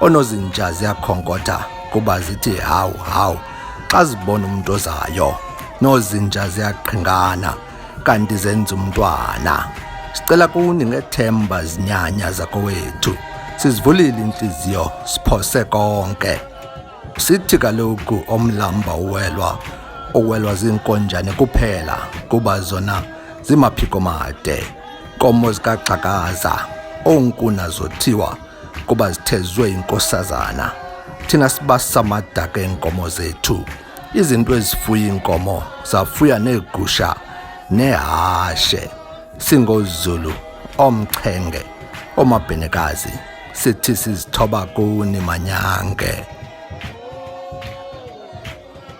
Oonozinja ziyakhonkotha kuba zithi hawu hawu xa zibona umntu ozayo. Noozinja ziyaqhingana kanti zenza umntwana. Sicela kuni ngethemba zinyanya zakowethu. Sizivulile intliziyo siphose konke. Sithi kaloku omlamba uwelwa uwelwa ziinkonjane kuphela kuba zona zimaphiko made. Komo zikaxhakaza oonkuna zothiwa kuba zithezwe inkosazana thina sibasa amadaka eenkomo zethu izinto ezifuya iinkomo zafuya neegusha nehashe singozulu omchenge omabhenekazi sithi sizithoba kuni manyange